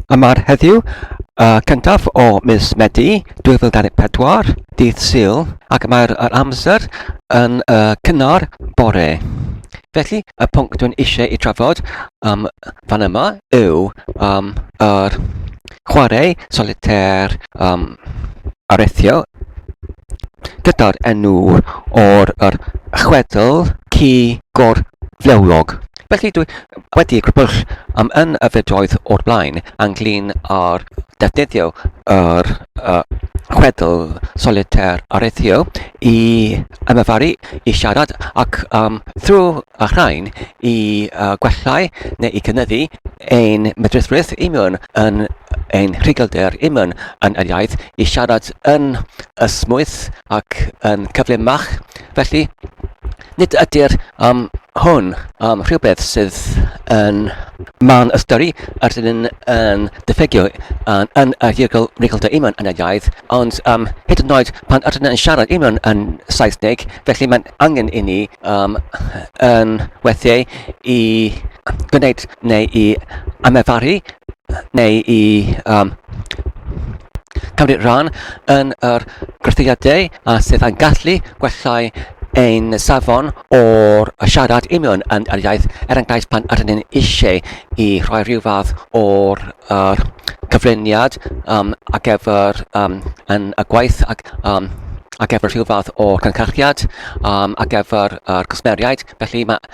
Yma heddiw, y cyntaf o mis Medi 2024, dydd Sul, ac mae'r amser yn y cynnar bore. Felly, y pwnc dwi'n eisiau ei trafod um, fan yma yw um, yr chwarae solitaire um, arethiol gyda'r enw o'r chwedl ci gorflewlog. Felly, dwi wedi gwybod am un y fidoedd o'r blaen ynglyn â'r defnyddio yr uh, chwedl solitaire areithio i ymyfaru, i siarad ac um, thrwy y rhain i uh, gwellai neu i gynyddu ein medrusrwydd i mewn yn ein rhugylder i mewn yn yr iaith i siarad yn ysmwyth ac yn cyflymach. Felly, Nid ydy'r um, hwn um, rhywbeth sydd yn man y stori a sydd yn, yn diffegio yn, yn y rhugl rhugl dy iman yn y iaith, ond um, hyd yn oed pan ydyn yn siarad iman yn Saesneg, felly mae'n angen i ni um, yn weithiau i gwneud neu i amefaru neu i um, cymryd rhan yn yr gwerthiadau a sydd yn gallu gwellai ein safon o'r siarad union yn yr iaith, er enghraifft pan ydyn ni'n eisiau i rhoi rhyw fath o'r uh, cyflwyniad um, ar gyfer um, yn y gwaith ac, um, ar gyfer rhyw fath o cyncarchiad um, ar gyfer yr uh, cwsmeriaid. Felly mae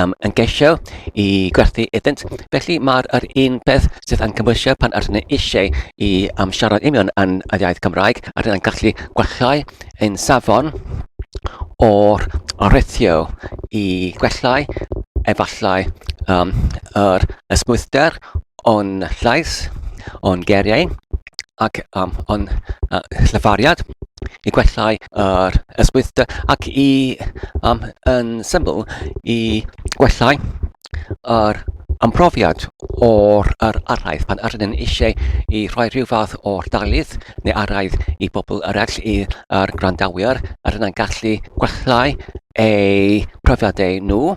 um, yn gesio i gwerthu iddynt. Felly mae'r yr un peth sydd yn cymwysio pan ydyn ni eisiau i um, siarad union yn y iaith Gymraeg, a rydyn ni'n gallu gwellhau ein safon o'r rithio i gwellhau efallai um, yr ysmwythder o'n llais, o'n geriau, ac am o'n yy llyfariad i gwellhau yr ysgwyddte ac i yym yn syml i gwellhau yr yym profiad o'r yr araith pan yr ydyn eisiau i rhoi rhyw fath o'r darlith neu araith i bobl eraill i yr gwrandawyr yr ydyn yn gallu gwellhau eu profiadau nhw.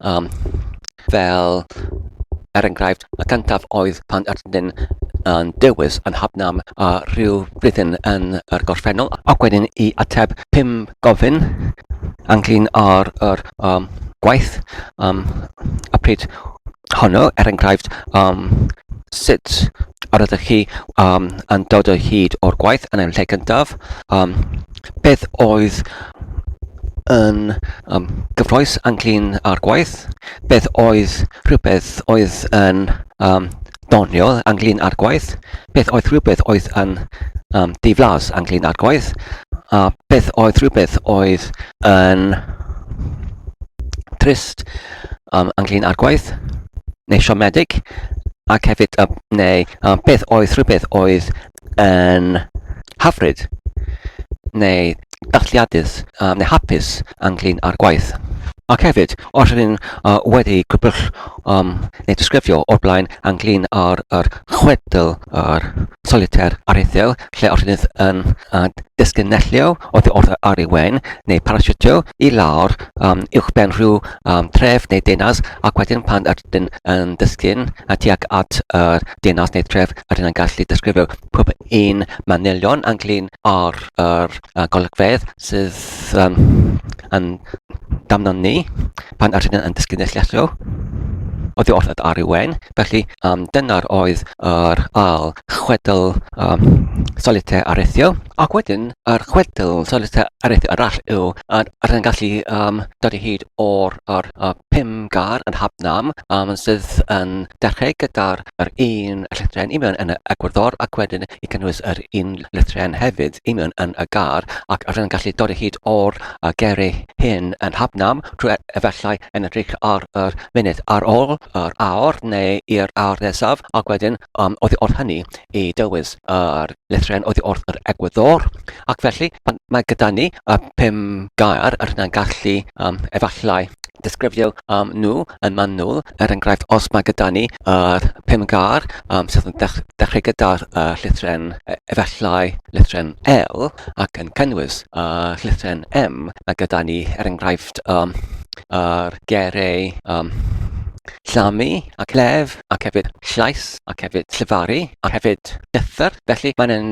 Um, fel, er enghraifft, y cyntaf oedd pan ydyn yn dewis yn hafnam a rhyw flwyddyn yn yr gorffennol, ac wedyn i ateb pum gofyn ynglyn â'r er, um, gwaith um, a pryd honno, er enghraifft, um, sut yr ydych chi um, yn dod o hyd o'r gwaith yn ein lle cyntaf, um, Beth oedd yn yym gyffrous a clean ar gwaith? Beth oedd rhywbeth oedd yn yym doniol a clean ar gwaith? Beth oedd rhywbeth oedd yn yym diflas a clean ar gwaith? A beth oedd rhywbeth oedd yn trist yym a clean ar gwaith? Neu siomedig? Ac hefyd yym neu yym beth oedd rhywbeth oedd yn hyfryd neu dathliadus um, neu hapus ynglyn â'r gwaith. Ac hefyd, os ydyn ni'n uh, wedi gwybod um, neu disgrifio o'r blaen ynglyn â'r er chwedl yr soliter aruthiol, lle os ydyn yn uh, disgynellio oddi wrth ar ei wen neu parasitio i lawr um, uwch ben rhyw um, tref neu deunas ac wedyn pan ydyn yn disgyn a tuag at yr deyrnas neu'r tref a ry'n ni'n gallu disgrifio pob un manylion ynglyn â'r yr yy golygfeydd sydd yym yn damnon ni pan ydyn ni'n dysgu neilltuo oddi wrth yr arwen. Felly um, dyna'r oedd yr al chwedl um, solitau arethiol. Ac wedyn, yr chwedl solitau arethiol arall yw, a rydyn gallu um, dod i hyd o'r, or, a pum gar yn Hab Nam um, sydd yn dechrau gyda'r yr un llethren i mewn yn y egwyddor ac wedyn i cynnwys yr un llethren hefyd i mewn yn y gar ac rydyn yn gallu dod o hyd o'r uh, gerau hyn yn Hab Nam trwy e-, efallai yn edrych ar yr munud ar ôl yr awr neu i'r awr nesaf ac wedyn um, oedd wrth hynny i dywys yr llythrennau oddi wrth yr egwyddor. Ac felly, pan mae gyda ni y pum gair, yr hynna'n gallu um, efallai disgrifio um, nhw yn manwl. Er enghraifft, os mae gyda ni yr pum gair um, sydd yn dech dechrau gyda'r uh, llythren e, efallai llythren L ac yn cynnwys uh, llythren M, mae gyda ni er enghraifft um, yr gerau um, llamu ac lef ac hefyd llais ac hefyd llefaru, ac hefyd llethr. Felly, mae'n yn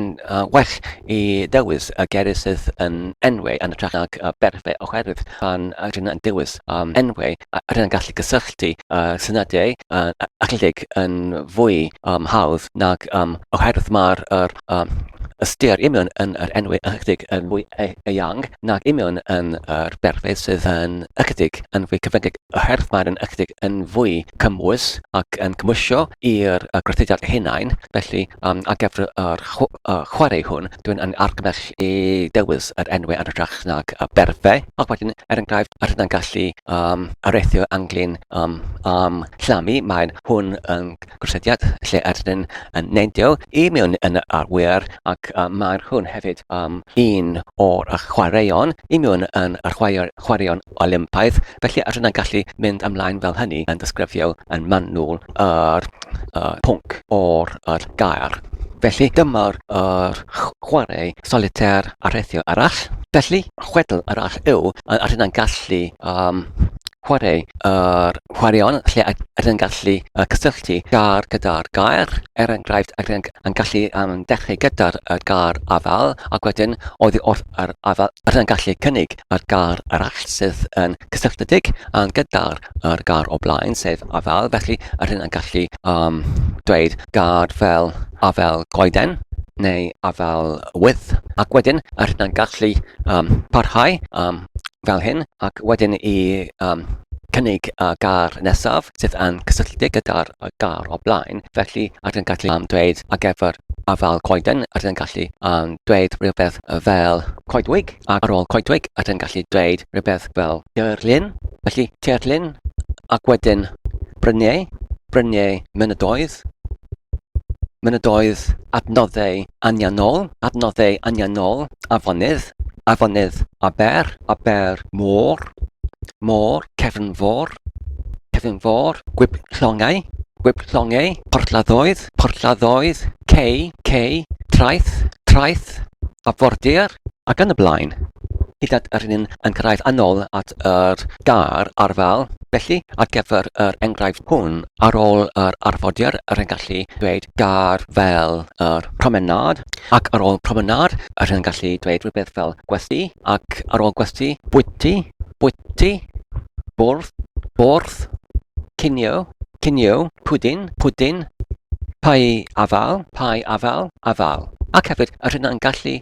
well i ddewis y geiriau sydd yn enwau yn ytrach nag berfau oherwydd pan rydyn ni'n dewis enwau rydyn ni'n gallu cysylltu syniadau achledig yn fwy hawdd nag oherwydd mae'r ystyr union yn yr enwau achledig yn fwy eang nag union yn yr berfau sydd yn ychydig yn fwy cyfyngedig. oherwydd mae'n un ychydig yn fwy cymwys ac yn cymwysio i'r gwerthusiad hunain, felly um, ar gyfer yr chwarae hwn, dwi'n yn argymell i dewis yr enwau yn hytrach nag y berfau, ac wedyn, er enghraifft, yr hynna'n gallu um, areithio ynglyn um, am llamu, mae'n hwn yn Cwsediad lle ydyn yn neidio i mewn yn y arwyr ac uh, mae'r hwn hefyd um, un o'r chwaraeon i mewn yn y chwaraeon Olympaidd felly ydyn yn gallu mynd ymlaen fel hynny yn disgrifio yn manwl yr uh, pwnc o'r uh, gair. Felly dyma'r uh, chwarae solitaire arhethio arall. Felly, chwedl arall yw, a rydyn gallu um, chwarae yr Chwaraeon lle a rydyn yn gallu cysylltu gar gyda'r gair, er enghraifft a rydyn yn gallu um, dechrau gyda'r er gar afael ac wedyn oddi wrth yr afael a rydyn yn gallu cynnig yr gar arall sydd yn cysylltiedig um, gyda'r er gar o blaen sef afael felly a rydyn yn gallu um, dweud gar fel afael goeden neu afael wyth ac wedyn a rydyn yn gallu um, parhau um, fel hyn ac wedyn i yym cynnig y gair nesaf sydd yn cysylltiedig gyda'r y gair o blaen. Felly rydyn ni'n gallu am dweud ar gyfer afael coeden, rydyn ni'n gallu am dweud rhywbeth fel coedwig, ac ar ôl coedwig rydyn ni'n gallu dweud rhywbeth fel teirlin. Felly teirlin ac wedyn bryniau, bryniau mynydoedd, mynydoedd adnoddau anianol, adnoddau anianol, afonydd, afonydd, aber, aber, môr, môr, cefn fôr, cefn fôr, gwib llongau, gwib llongau, porthladdoedd, porthladdoedd, cei, cei, traeth, traeth, afordir, ac yn y blaen. Hyd at yr un yn cyrraedd anol at yr gar arfal. Felly, ar gyfer yr enghraifft hwn, Ar ôl yr arfordir yr hen gallu dweud gair fel yr promenâd ac ar ôl promenâd yr hen gallu dweud rhywbeth fel gwesty ac ar ôl gwesty bwyty, bwyty, bwrdd, bwrdd, cinio, cinio, pwdin, pwdin, pai afal, pai afal, afal. Ac hefyd, yr hyn yn gallu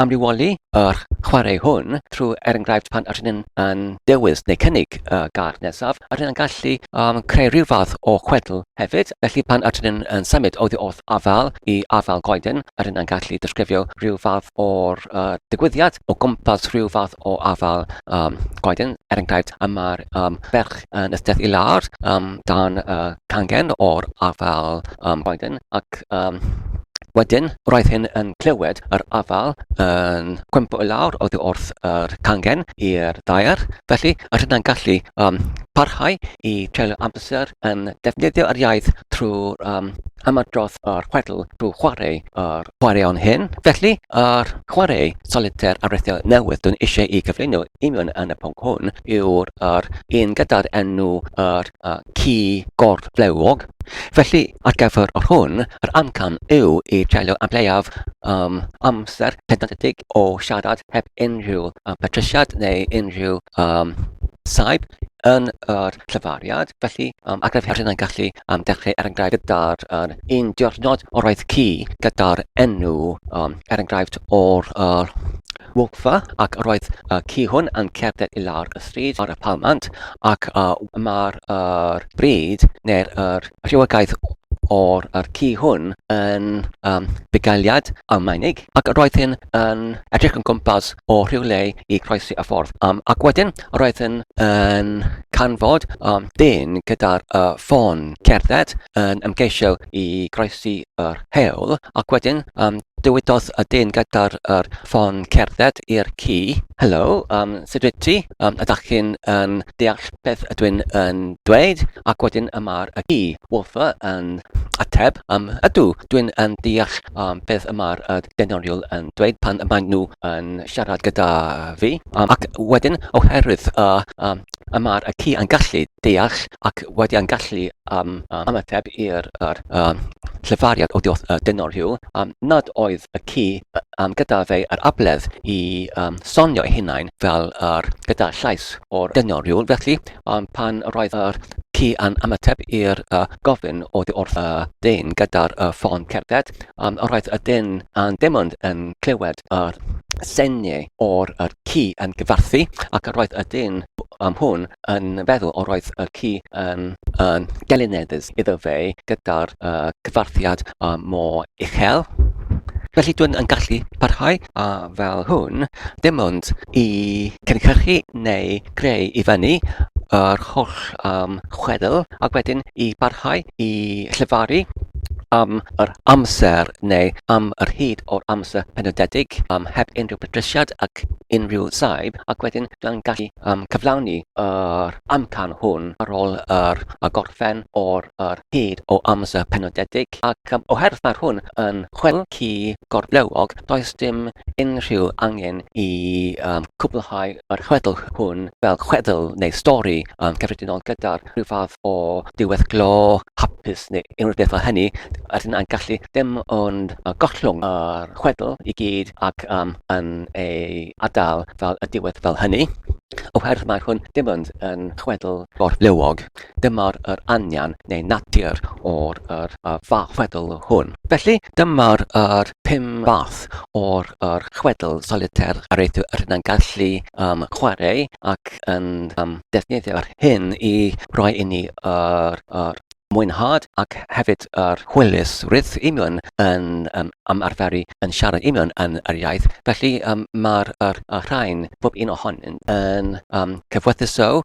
amrywioli yr chwarae hwn trwy er enghraifft pan yr hyn yn dewis neu cynnig. y gad nesaf, a rydyn yn gallu um, creu rhyw fath o chwedl hefyd. Felly pan a rydyn yn symud oddi wrth afael i afael goeden, a rydyn yn gallu disgrifio rhyw fath o'r uh, digwyddiad o gwmpas rhyw fath o afael um, goeden. Er enghraifft, y mae'r um, ferch yn ysteth i lawr um, dan uh, cangen o'r afael am Biden ac um, wedyn roedd hyn yn clywed yr afael yn cwympo i lawr oddi wrth yr cangen i'r daer, felly yr hynna'n gallu um, parhau i treulio amser yn defnyddio yr iaith trwy'r um, ymadrodd o'r chwedl drwy chwarae o'r chwaraeon hyn. Felly, yr chwarae solitaire arwreithiol newydd dwi'n eisiau i gyflwyno union yn y pwnc hwn yw'r un gyda'r enw yr uh, ci gorflewog Felly, ar gyfer yr hwn, yr amcan yw i dreulio am leiaf um, amser pedantedig o siarad heb unrhyw um, patrisiad neu unrhyw um, saib yn yr llyfariad. Felly, um, ar gyfer hyn yn gallu um, dechrau er enghraifft gyda'r um, un diwrnod o'r oedd ci gyda'r enw um, er enghraifft o'r uh, Wolfe, ac roedd y ci hwn yn cerdded i lawr y stryd ar y palmant, ac mae'r er bryd, neu'r er rhywogaeth o'r er ci hwn yn um, bugailiad Almaenig, ac roedd hyn yn edrych yn gwmpas o rhyw le i croesi y ffordd. Um, ac wedyn, Roedd yn yn canfod um, dyn gyda'r uh, ffôn cerdded yn ymgeisio i groesi yr hewl ac wedyn um, dywydodd y dyn gyda'r er, ffôn cerdded i'r ci. Helo, um, sut wyt ti? Um, ydych chi'n um, deall beth ydw i'n um, dweud? Ac wedyn y mae'r y ci, Wolfer, yn ateb, um, ydw, dwi'n um, deall um, beth y mae'r uh, denoriol yn dweud pan y maen nhw yn siarad gyda fi, um, ac wedyn oherwydd y um, y mae'r y ci yn gallu deall ac wedi yn gallu um, um, ymateb i'r er, um, llefariad o diolch uh, dynol rhyw, um, nad oedd y ci um, gyda fe yr abledd i um, sonio ei hunain fel er, gyda llais o'r dynol rhyw. Felly, um, pan roedd yr ci yn ymateb i'r uh, gofyn o di wrth y uh, dyn gyda'r uh, ffôn cerdded, Yym roedd y dyn yn dim ond yn clywed yr sengl o'r yr ci yn gyfarthu ac yr oedd y dyn yym hwn yn feddwl yr oedd y ci yn yn gelineddus iddo fe gyda'r yy cyfarthiad yy mor uchel. Felly dwi'n yn gallu parhau a fel hwn dim ond i cynhyrchu neu greu i fyny yr holl yym chwedl ac wedyn i barhau i llefaru yym yr amser neu am yr hyd o'r amser penodedig um, heb unrhyw bedrysiad ac unrhyw saib ac wedyn dwi'n gallu um, cyflawni yr amcan hwn ar ôl yr, y gorffen o'r yr hyd o amser penodedig ac um, oherwydd mae'r hwn yn chwel ci gorblewog does dim unrhyw angen i um, cwblhau yr chwedl hwn fel chwedl neu stori um, cyffredinol gyda'r rhyw fath o ddiweddglo hapus neu unrhyw beth fel hynny, a sydd yn gallu dim ond gollwng yr chwedl i gyd ac um, yn ei adael fel y diwedd fel hynny, oherwydd mae hwn dim ond yn chwedl gorflewog. Dyma'r yr anian neu natur o'r yr, uh, fath chwedl hwn. Felly, dyma'r yr pum fath o'r yr chwedl solitêr a rydyn ni'n gallu um, chwarae ac yn um, defnyddio'r hyn i roi i ni yr, yr mwynhad ac hefyd yr hwylus rydw union yn um, ymarferu yn siarad union yn yr iaith. Felly um, mae'r er, er rhain, bob un ohonynt yn um, cyfwythuso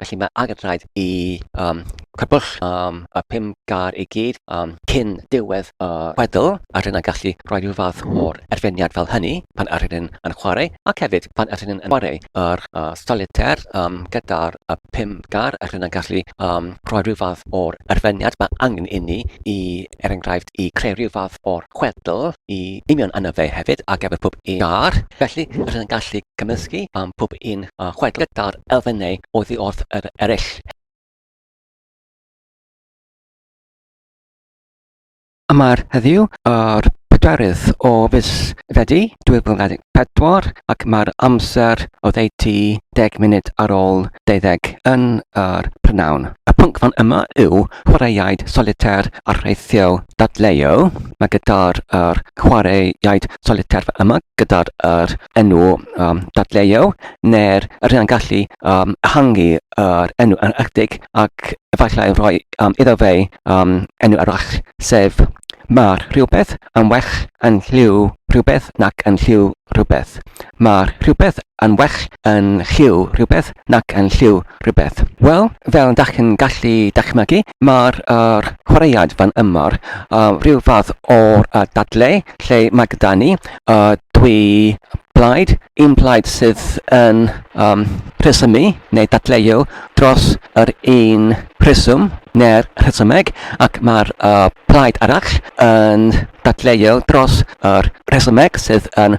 Felly mae angen rhaid i um, cybwll um, y pum gar i gyd um, cyn diwedd y uh, chwedl, a rhywun yn gallu rhoi rhyw fath o'r erfyniad fel hynny pan yr rhywun yn chwarae, ac hefyd pan yr rhywun yn chwarae yr uh, solitaire um, gyda'r uh, pum gar, a rhywun yn gallu um, rhoi rhyw fath o'r erfyniad mae angen inni i, er enghraifft, i creu rhyw fath o'r chwedl i union yna fe hefyd, ac efo pob un gar. Felly, rhywun yn gallu cymysgu am pob un a chwaeth gyda'r elfennau oddi wrth yr eraill. Yma'r heddiw yr pedwerydd o fis Fedi 2024 ac mae'r amser oddeutu deg munud ar ôl deuddeg yn yr prynhawn. Y pwnc fan yma yw chwaraeaid solitaire arfaethiol. dadleuo, mae gyda'r er, chwaraeaid soliter yma, gyda'r er, enw um, dadleuo, neu'r er, rhan gallu um, hangu yr enw yn ychydig ac efallai rhoi um, iddo fe um, enw arall, sef Mae'r rhywbeth yn well yn lliw rhywbeth nac yn lliw rhywbeth. Mae'r rhywbeth yn well yn lliw rhywbeth nac yn lliw rhywbeth. Wel, fel dach chi'n gallu dychmygu, mae'r er, chwaraead fan yma, uh, rhyw fath o'r uh, dadle lle mae gyda ni uh, dwy blaid, un blaid sydd yn um, rhesymu neu dadleu dros yr un rheswm neu'r rhesymeg ac mae'r uh, plaid arall yn dadleu dros yr rhesymeg sydd yn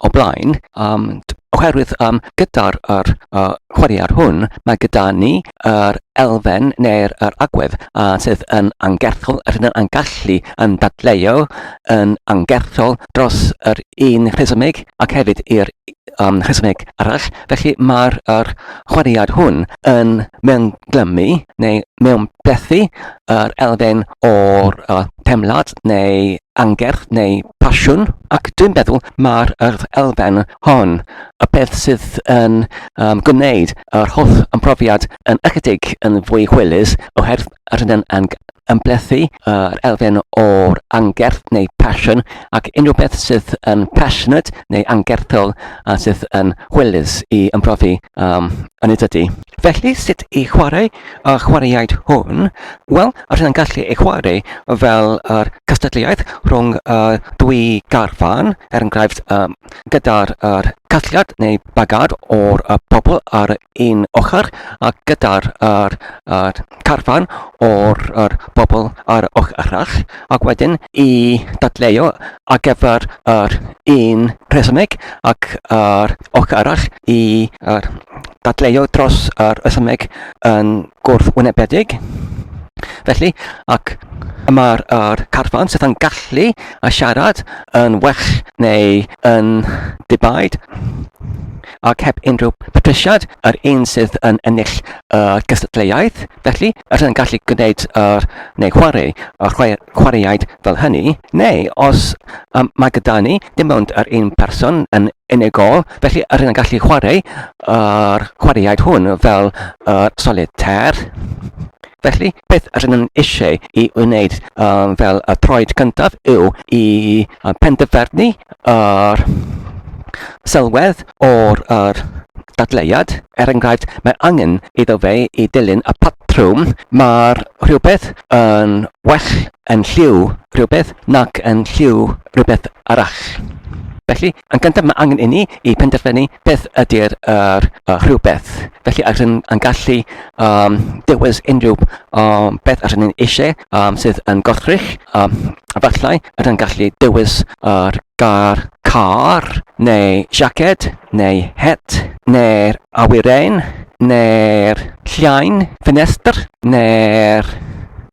o blaen, um, oherwydd um, gyda'r er, uh, chwaraear hwn, mae gyda ni yr er elfen neu'r er agwedd uh, sydd yn angerthol, yr hyn yn gallu yn dadleuo yn angerthol dros yr un rhesymeg ac hefyd i'r um, rhesymeg arall. Felly mae'r er chwaraead hwn yn mewn glymu neu mewn plethu yr elfen o'r uh, temlad neu angerdd neu pasiwn ac dwi'n meddwl mae'r elfen hon y peth sydd yn um, gwneud yr holl ymprofiad yn ychydig yn fwy hwylus oherwydd yr hyn yn ymblethu yr uh, elfen o'r angerdd neu pasiwn ac unrhyw beth sydd yn passionate neu angerthol a sydd yn hwylus i ymprofi um, yn ei dydy. Felly sut i chwarae a chwaraeaid hwn, wel, os yna'n gallu ei chwarae fel yr cystadleuaeth rhwng y dwy garfan, er enghraifft um, gyda'r er casgliad neu bagad o'r er pobl ar un ochr a gyda'r er, er carfan o'r er bobl ar ochr arall ac wedyn i dadleu ar gyfer yr un rhesymeg ac yr ochr arall i er, dadleuo dros y rhesymeg yn gwrthwynebedig. Felly, ac y mae'r er carfan sydd yn gallu a siarad yn well neu yn dibaid ac heb unrhyw patrisiad yr un sydd yn ennill y uh, gystadleuaeth. Felly, yr yn gallu gwneud yr, neu chwarae y chwaraeaid fel hynny, neu os um, mae gyda ni dim ond yr un person yn unigol Felly, rydyn yn gallu chwarae yr chwaraeaid hwn fel uh, solitaire. Felly, beth rydyn yn eisiau i wneud um, fel y troed cyntaf yw i uh, penderfynu yr sylwedd o'r er, dadleuad. Er enghraifft, mae angen iddo fe i dilyn y patrwm. Mae'r rhywbeth yn well yn lliw rhywbeth nac yn lliw rhywbeth arall. Felly, Yn gyntaf, mae angen inni i penderfynu beth ydy'r er, uh, rhywbeth. Felly, ar hyn yn gallu um, dewis unrhyw um, beth ar hyn yn eisiau um, sydd yn gorthrych. Um, efallai, ar hyn gallu dewis yr er gar, car, neu jacket, neu het, neu'r awyren, neu'r llain, ffenestr, neu'r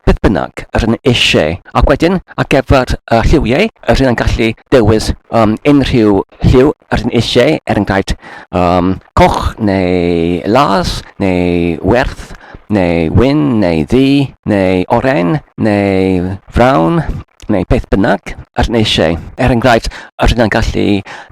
beth bynnag yr hyn eisiau. Ac wedyn, ar gyfer y lliwiau, yr hyn yn gallu dewis um, unrhyw lliw yr hyn eisiau, er enghraifft um, coch neu las neu werth neu wyn neu ddu neu oren neu frawn neu beth bynnag yr neisiau. Er enghraifft, yr hynna'n gallu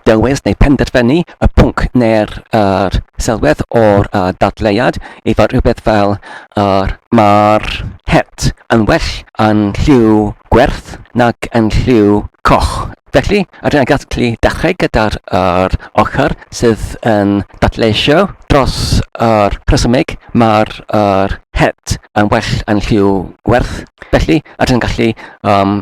dewis neu penderfynu y pwnc neu'r er sylwedd o'r uh, dadleuad i fod rhywbeth fel yr mae'r het yn well yn lliw gwerth nag yn lliw coch. Felly, yr hynna'n gallu dechrau gyda'r er ochr sydd yn dadleisio dros yr er rhesymig mae'r er het yn well yn lliw werth. Felly, ydych chi'n gallu um,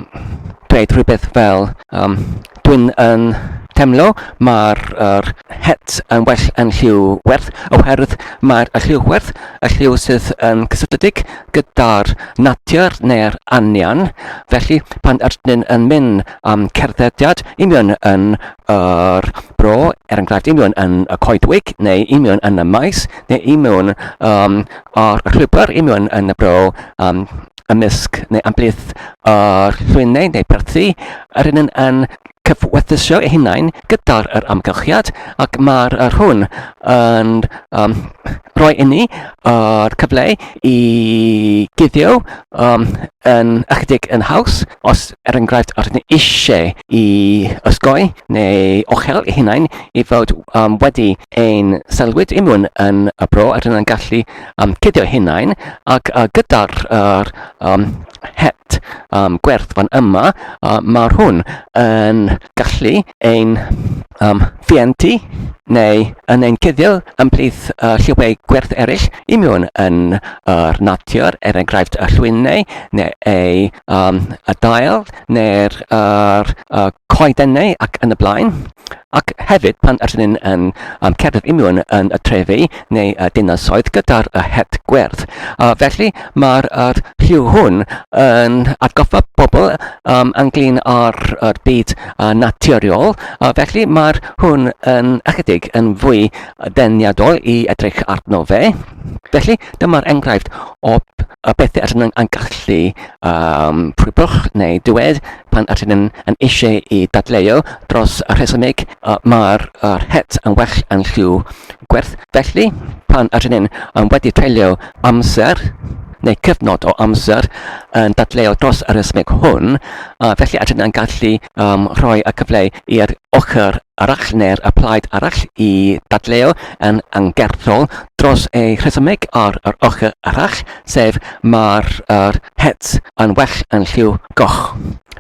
dweud rhywbeth fel um, dwi'n yn temlo mae'r er, het yn well yn lliw werth oherwydd mae'r lliw werth y lliw sydd yn cysylltiedig gyda'r natur neu'r anian. Felly, pan ydyn yn mynd am cerddediad, i mi yn yr bro, er enghraifft, i mewn yn y coedwig, neu i mewn yn y maes, neu i mewn um, o'r llwybr, i mewn yn y bro, um, ymysg neu amblith o'r llwynau neu perthi, yr un yn cyfwethysio eu hunain gyda'r yr amgylchiad ac mae'r yr hwn yn um, rhoi inni yr cyfle i guddio um, yn ychydig yn haws os er enghraifft, rydyn ni eisiau i ysgoi neu ochel i hunain i fod um, wedi ein selwyd imwn yn y bro a rydyn ni'n gallu um, cydio hunain ac uh, gyda'r er, um, het um, gwerth fan yma, uh, mae hwn yn gallu ein um, fientu neu yn ein cuddio ymhlith uh, lliwiau gwerth eraill i mewn yn yr natur, er enghraifft y llwynau neu ei um, y dail neu'r er, uh, coedennau ac yn y blaen. Ac hefyd pan ydyn ni'n yn um, cerdded i mewn yn y trefi neu y dinasoedd gyda'r uh, het gwerth. Uh, felly Mae'r er, rhyw hwn yn atgoffa pobl um, ynglyn â'r er byd uh, naturiol, uh, felly mae'r hwn yn ychydig yn fwy deniadol i edrych arno fe. Felly, dyma'r enghraifft o y bethau allan yn, yn gallu um, pwybwch neu dywed pan allan yn, yn eisiau i dadleu dros y rhesymig uh, mae'r uh, het yn well yn lliw gwerth. Felly, pan allan yn, yn wedi treulio amser neu cyfnod o amser yn dadleuo dros yr ysmyg hwn, a felly a dyna'n gallu um, rhoi y cyfle i'r ochr arall neu'r y plaid arall i dadleuo yn angerddol dros ei rhesymeg ar yr ochr arall, sef mae'r er, het yn well yn lliw goch.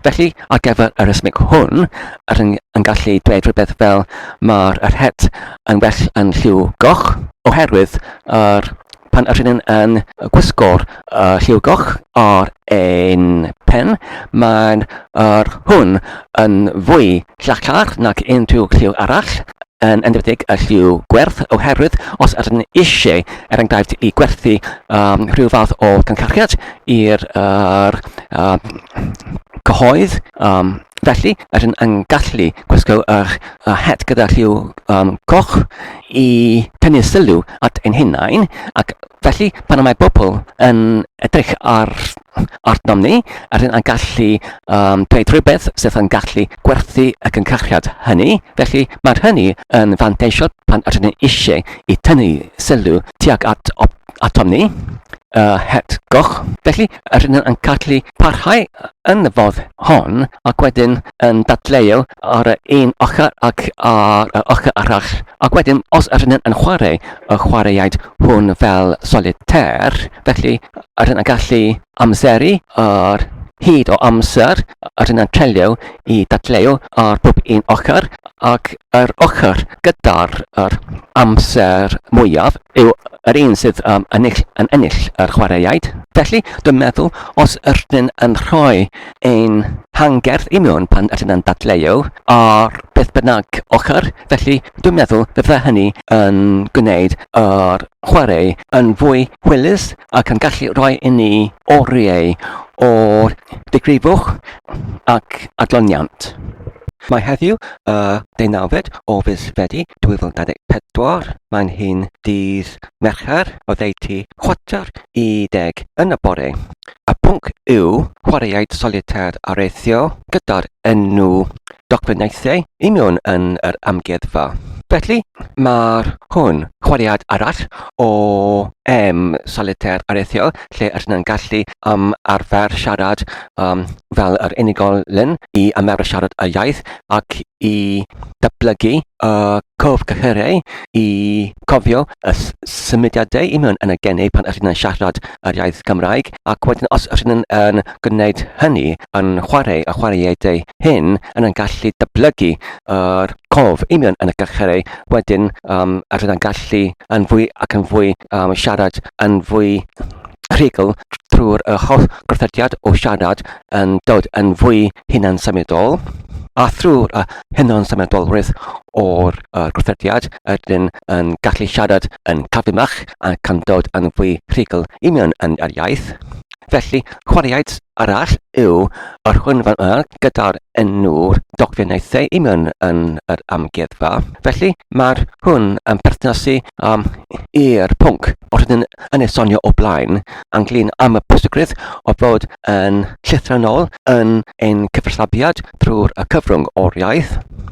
Felly, ar gyfer yr ysmyg hwn, yr yn, yn gallu dweud rhywbeth fel mae'r er het yn well yn lliw goch, oherwydd A'r pan rydyn yn yn gwisgo'r uh, lliw goch ar ein pen, mae'n uh, hwn yn fwy llachar nag unrhyw lliw arall, yn enwedig y lliw gwerth, oherwydd os ydyn ni eisiau, er enghraifft, i gwerthu um, rhyw fath o gyncarchiad i'r uh, um, cyhoedd, um, felly ydyn yn gallu gwisgo yr uh, het gyda lliw um, coch i tynnu sylw at ein hunain, ac felly pan mae pobl yn edrych ar arnom ni, rydyn ni'n gallu um, dweud rhywbeth sydd yn gallu gwerthu y cyncarchiad hynny. Felly mae hynny yn fanteisio pan rydyn ni eisiau i tynnu sylw tuag at atom ni, y het goch. Felly, rydyn yn gallu parhau yn y fodd hon ac wedyn yn dadleu ar y un ochr ac ar y ochr arall. Ac wedyn, os rydyn yn chwarae y chwaraeaid hwn fel solitair, felly rydyn yn gallu amseru yr hyd o amser rydyn yn trelio i dadleu ar bob un ochr ac yr ochr gyda'r yr amser mwyaf yw yr un sydd um, ennill, yn ennill yr chwaraeaid. Felly, dwi'n meddwl, os ydyn yn rhoi ein hangerdd i mewn pan ydyn yn dadleu ar beth bynnag ochr, felly dwi'n meddwl bydde hynny yn gwneud yr chwarae yn fwy hwylus ac yn gallu rhoi i ni oriau o'r digrifwch ac adloniant. Mae heddiw y deunawfed o fis Fedi 2024, mae'n hyn dydd Mercher oddeutu chwarter i deg yn y bore, a pwnc yw chwaraeaid solitaire areithio gyda'r enw dogfennaethau i mewn yn yr amgueddfa. Felly, mae'r hwn chwariad arall o em solitaire arethiol lle rydyn yn gallu am arfer siarad um, fel yr unigolyn i ymarfer siarad y iaith ac i datblygu y cof cyhyrau i cofio y symudiadau i mewn yn y geni pan rydyn yn siarad yr iaith Gymraeg ac wedyn os rydyn yn, yn gwneud hynny, yn chwarae y chwaraeadau hyn, yn yn gallu dyblygu yr uh, cof union yn y galcherau, wedyn um, rydyn yn gallu yn fwy ac yn fwy um, siarad yn fwy rhigol trwy'r uh, holl gorthodiad o siarad yn dod yn fwy hunan symudol a thrwy'r uh, hynod symudolrwydd o'r uh, gwrthodiad ydyn yn gallu siarad yn cadwymach a can dod yn fwy rhugl i mewn yn yr iaith. Felly, chwaraeaid arall yw yr hwn fan yma gyda'r enw'r dogfennaethau i mewn yn yr amgueddfa. Felly, mae'r hwn yn perthnasu um, i'r pwnc o'r hyn yn ei sonio o blaen ynglyn am y pwysigrwydd o fod yn llythrenol yn ein cyfathrebiad drwy'r cyfrwng o'r iaith.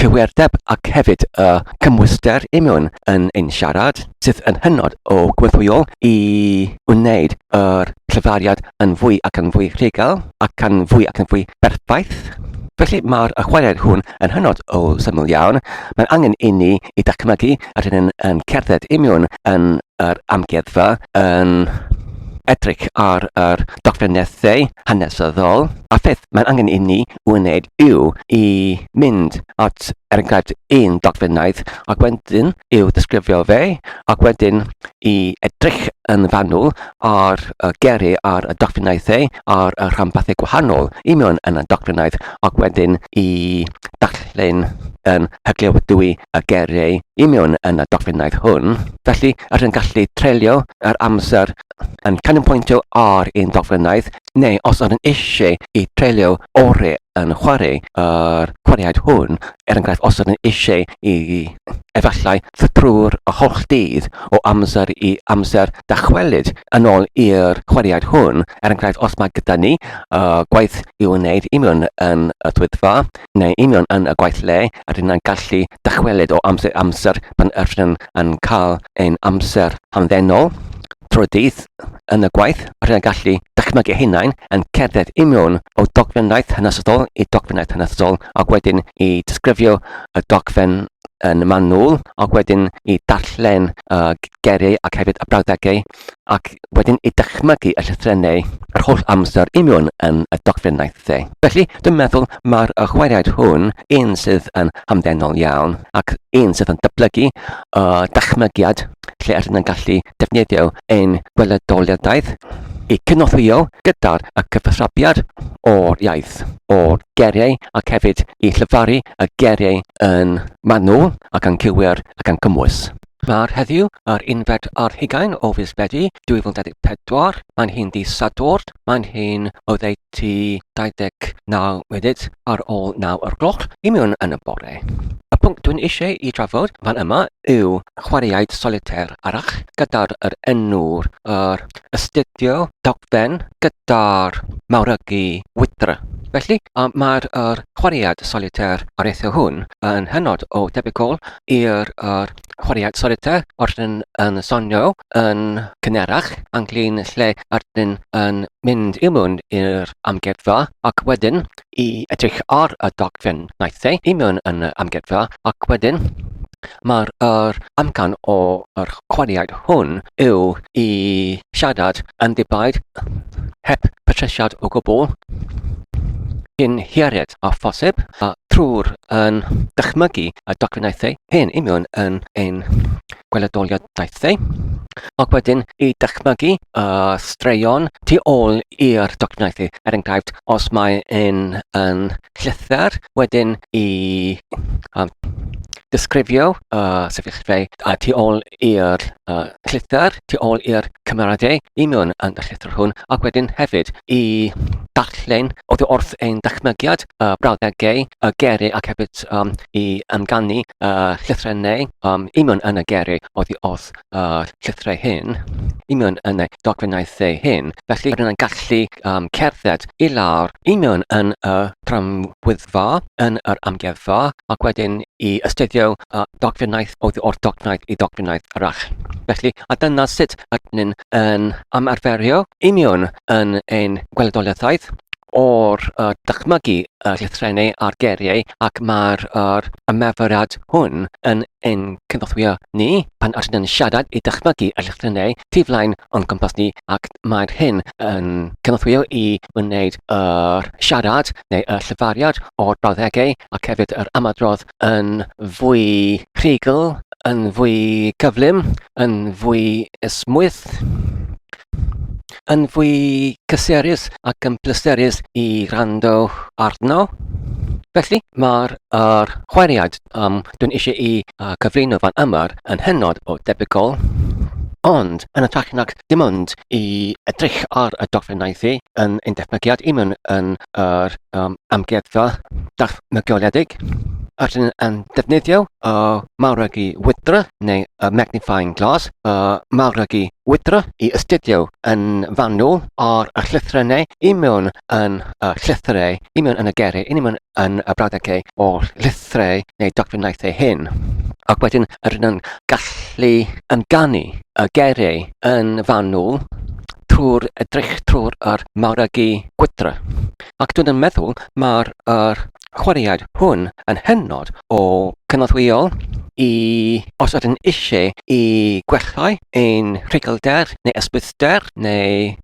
cywirdeb ac hefyd y cymhwyster imiwn yn ein siarad, sydd yn hynod o gwibwyol i wneud yr cyfariad yn fwy ac yn fwy rhugl ac yn fwy ac yn fwy berffaith. Felly mae'r chwarae'r hwn yn hynod o syml iawn. Mae'n angen i ni i dachmygu yr hyn yn, yn cerdded imiwn yn yr amgueddfa, yn edrych ar yr dogfennaethau hanesyddol, a pheth mae'n angen i ni wneud yw i mynd at ergyd un dogfennaeth ac wedyn i'w ddisgrifio fe ac wedyn i edrych yn fanwl ar y geri ar y dogfennaethau ar y rhanbarthau gwahanol i mewn yn y dogfennaeth ac wedyn i darllen yn hyglewydwy y geriau i mewn yn y dogfennaeth hwn. Felly, rydyn yn gallu treulio yr amser yn canolbwyntio ar ein dogfennaeth neu os ydyn nhw eisiau eu treulio orau yn chwarae yr chwaraead hwn, er enghraifft os ydyn nhw eisiau i efallai trwy'r holl dydd o amser i amser dychwelyd yn ôl i'r chwaraead hwn, er enghraifft os mae gyda ni uh, gwaith i'w wneud union yn y swyddfa neu union yn y gwaith le, rydyn nhw'n gallu dychwelyd o amser i amser pan ydyn nhw'n cael ein amser hamddenol trwy dydd. yn y gwaith rydyn ni'n gallu dychmygu hunain yn cerdded i mewn o dogfennaeth hanesyddol i dogfennaeth hanesyddol ac wedyn i disgrifio y dogfen yn manwl ac wedyn i darllen y geiriau ac hefyd y brawddegau ac wedyn i dychmygu y llythrennau yr holl amser i mewn yn y dogfennaeth dde. Felly, dwi'n meddwl mae'r y chwaraead hwn un sydd yn hamddenol iawn ac un sydd yn dyblygu y dychmygiad lle yr yna'n gallu defnyddio ein gweledoliadaeth i cynorthwyo gyda'r cyfathrebiad o'r iaith, o'r geriau ac hefyd i llyfaru y geriau yn manwl ac yn cywir ac yn cymwys. Mae'r heddiw yr unfed ar hugain o fis Medi 2024. Mae'n hi'n ddydd Sadwrn. Mae'n hi'n oddeutu tua 29 munud ar ôl 9 o'r gloch i mewn yn y bore. Y pwnc dwi'n eisiau i drafod fan yma yw chwaraeaid solitaire arall gyda'r yr enw'r yr astudio dogfen gyda'r mawrygu wydr. Felly, mae'r er, chwaraead solitaire ar eithaf hwn yn hynod o debygol i'r er, chwaraeon solitê wrth yn yn sonio yn cynharach, anglin lle ydyn yn mynd i mewn i'r amgueddfa ac wedyn i edrych ar y dogfen wnaeth e i mewn yn y amgueddfa ac wedyn mae'r yr amcan o'r chwaraead hwn yw i siarad yn ddibaid heb patresiad o gwbl cyn hiared a phosib a trwy'r yn dychmygu y docynnau hyn i mewn yn ein gweledoliadaethau ac wedyn i dychmygu y straeon tu ôl i'r docynnau er enghraifft os mae un yn llythyr wedyn i um, disgrifio y sefyllfa a tu ôl i'r llythyr tu ôl i'r cymeradau i mewn yn y llythyr hwn ac wedyn hefyd i ddarllen oddi wrth ein dychmygiad y brawddegau, y geri ac hefyd um, i ymganu y llythrennau um, i mewn yn y geri oddi wrth y llythrau hyn, i mewn yn y dogfennaethau hyn. Felly rydyn yn gallu um, cerdded i lawr i mewn yn y tramwyddfa yn yr amgueddfa ac wedyn i astudio y dogfennaeth oddi wrth dogfennaeth i dogfennaeth arall. Felly, a dyna sut ydyn ni'n yn ymarferio union yn ein gweledoliaethaeth o'r uh, dychmygu y llythrennau a'r geiriau ac mae'r uh, ymarferiad hwn yn ein cynorthwyo ni pan ydyn ni'n siarad i dychmygu y llythrennau tu flaen o'n cwmpas ni ac mae'r hyn yn cynorthwyo i wneud yr siarad neu y llyfariad o'r brawddegau ac hefyd yr ymadrodd yn fwy rhugl, yn fwy cyflym, yn fwy ysmwyth, yn fwy cysurus ac yn bleserus i rando arno. Felly, mae'r er chweriad am dwi'n eisiau i uh, cyflwyno fan yma'r yn hynod o debygol, ond yn ytrach nag dim ond i edrych ar y dogfennau thi yn ein defnyddiad i mewn yn yr um, amgueddfa darfnygioledig, rydyn yn defnyddio y mawrygu wydra neu y magnifying glass, y mawrygu wydra i astudio yn fanwl ar y llythrennau i mewn yn y llythrau, i mewn yn y gerau, i mewn yn y brawddegau ei holl lythriau neu dogfennaeth ei hun. Ac wedyn yr yn gallu amdani y gereu yn fanwl trwy'r edrych trwy'r yr mawragu gwydra. Ac dwi'n yn meddwl mae'r er chwaraead hwn yn hynod o cynorthwyol i os ydyn eisiau i gwellhau ein rhugylder neu ysbryd Gwrthbwyllgor neu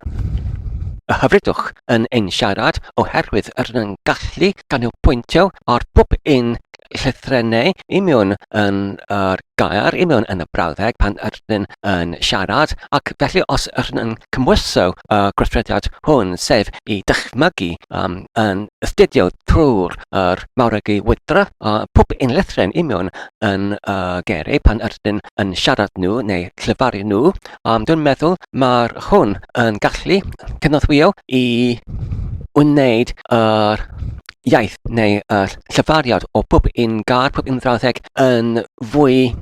y hyfrydwch yn ein siarad oherwydd rydyn ni'n gallu canolbwyntio ar bob un llythrennau i mewn yn yr gair, i mewn yn y brawddeg pan ydyn yn siarad, ac felly os ydyn yn cymwyso y gweithrediad hwn, sef i dychmygu um, yn astudio trwy'r er mawregi wydra a uh, pob un lithren i mewn yn y uh, geiriau pan ydyn yn siarad nhw neu llyfaru nhw, Ond dwi'n meddwl mae hwn yn gallu cynorthwyo i wneud yr iaith neu yr llyfariad o pob un gair, pob un frawddeg yn fwy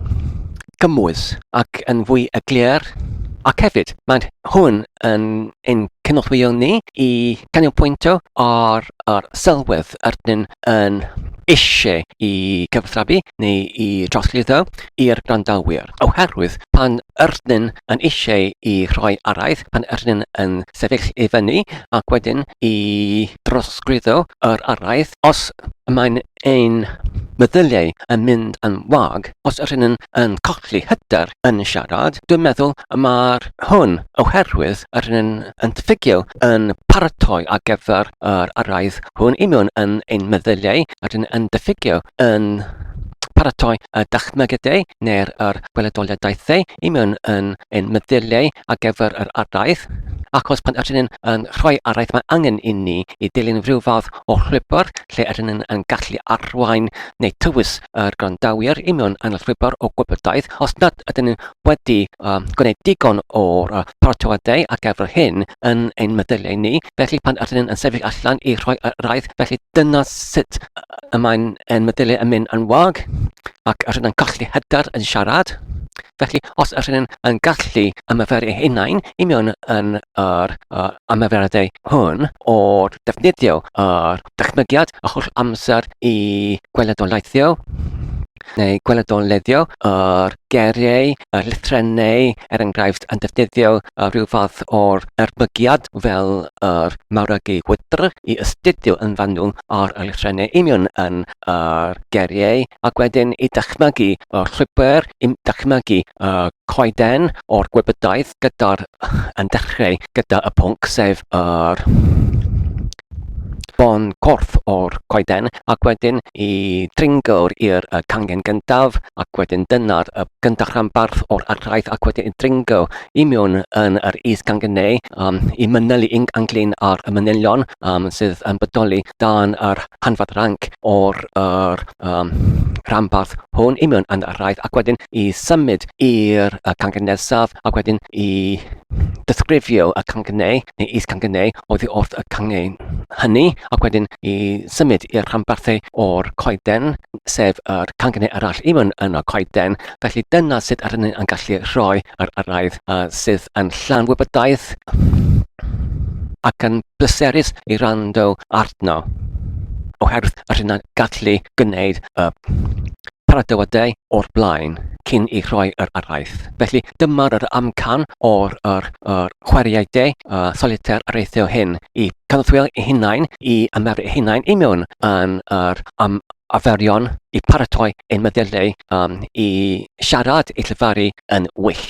gymwys ac yn fwy eglur. Ac hefyd, mae hwn yn ein cynorthwyo ni i canolbwyntio ar yr sylwedd yr ydyn yn eisiau i gyfathrebu neu i drosglwyddo i'r gwrandawyr, oherwydd pan yrnyn yn eisiau i rhoi araith, pan yrnyn yn sefyll i fyny ac wedyn i drosglwyddo yr araith, os mae'n ein meddyliau yn mynd yn wag, os yrnyn yn colli hyder yn siarad, dwi'n meddwl mae'r hwn oherwydd yrnyn yn ffugio yn paratoi ar gyfer yr araith hwn i mewn yn ein meddyliau a dyn yn diffygio yn paratoi y dychmygedau neu'r yr gweledoliadaethau i mewn yn ein meddyliau ar gyfer yr araith ac os pan ydyn yn rhoi araith mae angen i ni i dilyn rhyw fath o llwybr lle ydyn yn, yn gallu arwain neu tywys yr gwrandawyr i mewn yn y llwybr o gwybodaeth os nad ydyn ni wedi um, gwneud digon o'r uh, paratoadau ar gyfer hyn yn ein meddyliau ni Felly, pan ydyn ni'n sefyll allan i rhoi y rhaid, felly dyna sut y mae'n ein meddyliau yn mynd yn wag, ac ydyn ni'n colli hyder yn siarad. Felly, os ydyn ni'n yn gallu ymarferu hunain i mewn yn yr uh, ymarferadau hwn o defnyddio yr dychmygiad a holl amser i gweledolaethio, neu gweledolleddio yr geiriau, y llythrennau, er enghraifft, yn defnyddio rhyw fath o'r erbygiad fel yr mawrygu wydr i ystudio yn fanwl ar y llythrennau union yn yr geiriau ac wedyn i dychmygu y llwybr, i dychmygu y coeden o'r gwybodaeth gyda'r yn dechrau gyda y pwnc sef yr Bôn corff o'r coeden ac wedyn y dringawr i'r y cangen gyntaf ac wedyn dyna'r y gyntaf rhanbarth o'r arhraith ac wedyn y dringaw i mewn yn yr is cangen neu um, i mynelu yn anglyn ar y manylion um, sydd yn bodoli dan yr hanfod ranc o'r yr, um, rhanbarth hwn i mewn yn yr arhraith ac wedyn i symud i'r cangyn nesaf ac wedyn i disgrifio y cangynnau neu is-cangynnau oddi wrth y cangen hynny ac wedyn i symud i'r rhanbarthau o'r coeden, sef yr cangynnau arall i mewn yn y coeden. Felly dyna sut ar hynny yn gallu rhoi yr yrraedd uh, sydd yn llawn wybodaeth ac yn bleserus i rando arno oherwydd yr hynna'n gallu gwneud y Para dy wadau o'r blaen cyn i rhoi yr araith. Felly dyma'r yr amcan o'r yr, yr chwaraeau de a solitaire areithio hyn i cynorthwyo eu hunain, i ymarfer eu hunain i mewn yn yr am arferion i paratoi ein meddyliau um, i siarad, i llefaru yn well.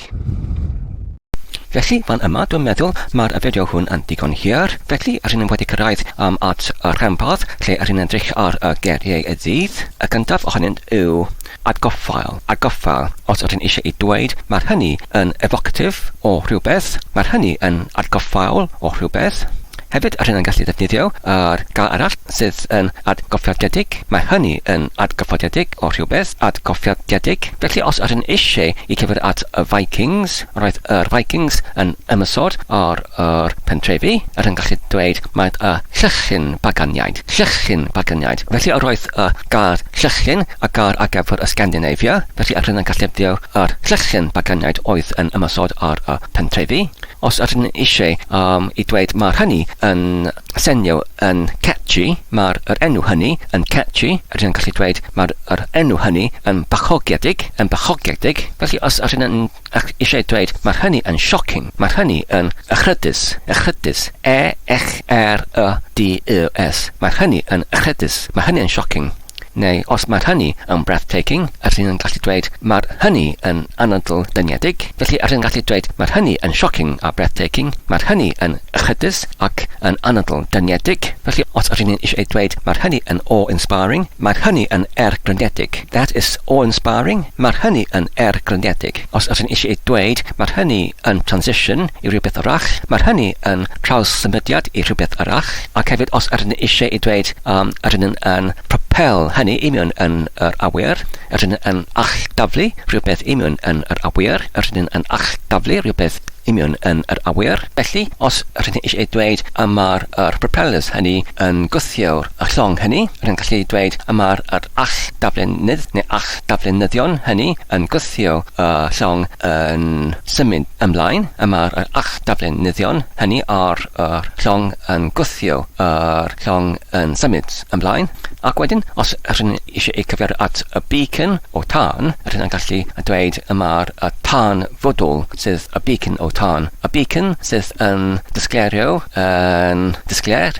Felly, fan yma, dwi'n meddwl, mae'r fideo hwn yn ddigon hir. Felly, rŷn ni wedi cyrraedd um, at y rhanbarth lle rŷn ni'n edrych ar y geiriau y dydd. Y gyntaf ohonynt yw atgoffail, atgoffail. Os rŷn ni eisiau ei dweud, mae'r hynny yn evocative o rhywbeth, mae'r hynny yn atgoffaol o rhywbeth. Hefyd yr hyn yn gallu ddefnyddio yr gair arall sydd yn atgyffordiedig, mae hynny yn atgyffordiedig o rhywbeth atgyffordiedig. Felly os yr hyn eisiau i cyfeirio at y Vikings, roedd yr Vikings yn ymosod ar yr pentrefi, yr hyn gallu dweud mae y llychlyn Baganiaid, llychlyn Baganiaid. Felly yr oedd y gair llychlyn y gair ar gyfer y Scandinavia, felly yr hyn yn gallu ddefnyddio yr llychlyn Baganiaid oedd yn ymosod ar y pentrefi. Os ydyn ni eisiau um, i dweud mae'r hynny yn senio yn catchy, mae'r yr enw hynny yn catchy, rydyn ni'n gallu dweud mae'r yr enw hynny yn bachogedig, yn bachogedig. Felly os ydyn ni'n eisiau dweud mae'r hynny yn shocking, mae'r hynny yn echrydus, echrydus, E-X-R-Y-D-U-S. Mae'r hynny yn echrydus, mae hynny yn shocking. Neu os mae'r hynny yn breathtaking, yr hyn yn gallu dweud mae'r hynny yn anadl dyniedig, felly yr hyn yn gallu dweud mae'r hynny yn shocking a breathtaking, mae'r hynny yn echydus ac yn anadl dyniedig, felly os yr hyn yn eisiau dweud mae'r hynny yn awe-inspiring, mae'r hynny yn erglynedig, that is awe-inspiring, mae'r hynny yn erglynedig. Os ydyn ni eisiau dweud, mae hynny yn transition i rhywbeth arall, mae hynny yn trawssymudiad i rhywbeth arall, ac hefyd os ydyn ni eisiau ei dweud, um, ydyn ni yn propel hynny i mewn yn yr awyr, ydyn ni yn alldaflu rhywbeth i mewn yn yr awyr, ydyn ni yn alldaflu rhywbeth i mewn yn yr awyr. Felly, os ydyn ni eisiau ei dweud y mae'r yr propellers hynny yn gwthio'r llong hynny, rydyn ni'n gallu dweud y mae'r yr alldaflenydd neu all darlunyddion hynny yn gwthio y llong yn symud ymlaen, y mae'r yr a'ch darlunyddion hynny ar yr llong yn gwthio yr llong yn symud ymlaen, ac wedyn, os ydych chi'n eisiau eu cyfeirio at y beacon o tân, ydych chi'n gallu dweud y mae'r y tân fodwl sydd y beacon o tân, y beacon sydd yn disgleirio yn disglair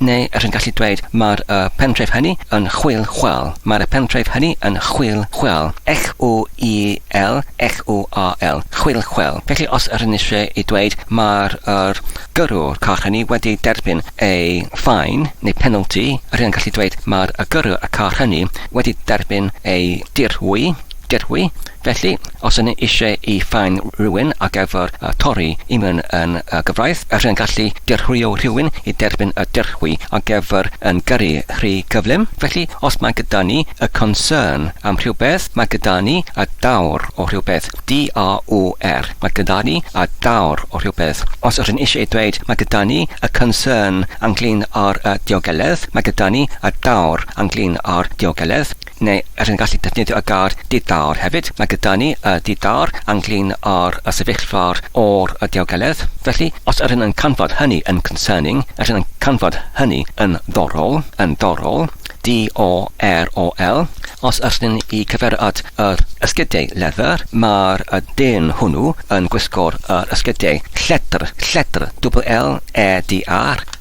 Neu yr hi'n gallu dweud, Mae'r y pentref hynny yn chwil chwâl. Mae'r y pentref hynny yn chwil chwâl. X-w-i-l, x-w-a-l, chwil chwel. Felly os yr hi'n eisiau i dweud, Mae'r yr gyrrwr car hynny wedi derbyn ei faen, neu penalty, yr hi'n gallu dweud, Mae'r y gyrrwr y car hynny wedi derbyn ei dirwy, dirwy, Felly, os ydyn ni eisiau i faen rhywun ar gyfer torri i mewn yn y gyfraith, ydyn ni'n gallu dirhwyo rhywun i dderbyn y dirhwy ar gyfer yn gyrru rhy gyflym? Felly, os mae gyda ni a concern am rhywbeth, mae gyda ni a daw'r o rhywbeth, DAWR, mae gyda ni a daw'r o rhywbeth. Os ydyn ni eisiau dweud mae gyda ni a concern ynglŷn â'r diogeledd, mae gyda ni a daw'r ynglŷn â'r diogeledd. neu yr hyn y gallu defnyddio y gair di-dâr hefyd. Mae gyda ni y di-dâr anghlin ar y sefyllfa'r ôr y diogeledd. Felly, os yr hyn yn canfod hynny yn concerning, yr hyn yn canfod hynny yn ddorol, yn ddorol, D-O-R-O-L, os yr hyn i cyfeirio at yr esgidiau leather, mae'r dyn hwnnw yn gwisgo'r yr esgidiau lledr, lledr, double L-E-D-R,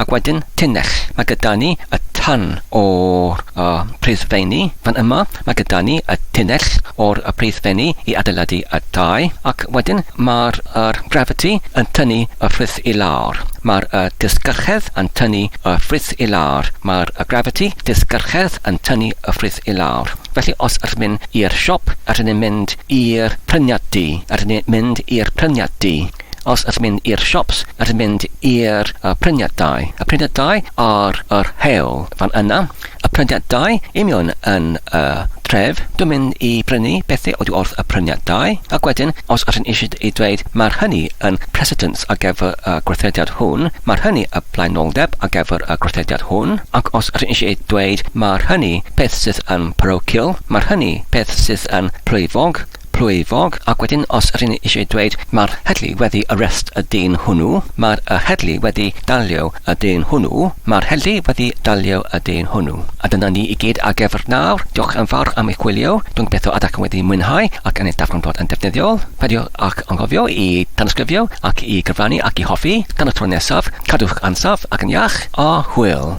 Ac wedyn, tunnell. Mae gyda ni y tân o'r y preiddfenni fan yma, mae gyda ni y tunnell o'r y preiddfenni i adeiladu y tai, ac wedyn mae'r yr gravity yn tynnu y ffrwyth i lawr. Mae'r y disgyrchedd yn tynnu y ffrwyth i lawr. Mae'r y gravity disgyrchedd yn tynnu y ffrwyth i lawr. Felly, os ydyn ni'n mynd i'r siop, ydyn ni'n mynd i'r pryniad du. Ydyn ni'n mynd i'r pryniad du. Os ydych chi'n mynd i'r siops, ydych chi'n mynd i'r prydniadau. Y prydniadau ar yr hewl fan yna. Y prydniadau union yn y tref. Dwi'n mynd i brynu bethau oddi wrth y prydniadau. Ac wedyn, os ydych chi'n eisiau ei dweud, mae'r hynny yn precedence ar gyfer y gweithrediad hwn, mae'r hynny y blaenoldeb ar gyfer y gweithrediad hwn, ac os ydych chi'n eisiau ei dweud, mae'r hynny peth sydd yn parochial, mae'r hynny peth sydd yn plwyfog, plwyfog ac wedyn os r'yn ni eisiau dweud mae'r heddlu wedi arrest y dyn hwnnw, mae'r y heddlu wedi dalio y dyn hwnnw, mae'r heddlu wedi dalio y dyn hwnnw. A dyna ni i gyd ar gyfer nawr. Diolch yn fawr am eich gwylio. Dwi'n gobeithio ydach yn wedi mwynhau ac yn eich darganfod yn defnyddiol. Peidiwch ag anghofio i danysgrifio ac i gyfrannu ac i hoffi. Tan y tro nesaf, cadwch ansawdd ac yn iach, a hwyl!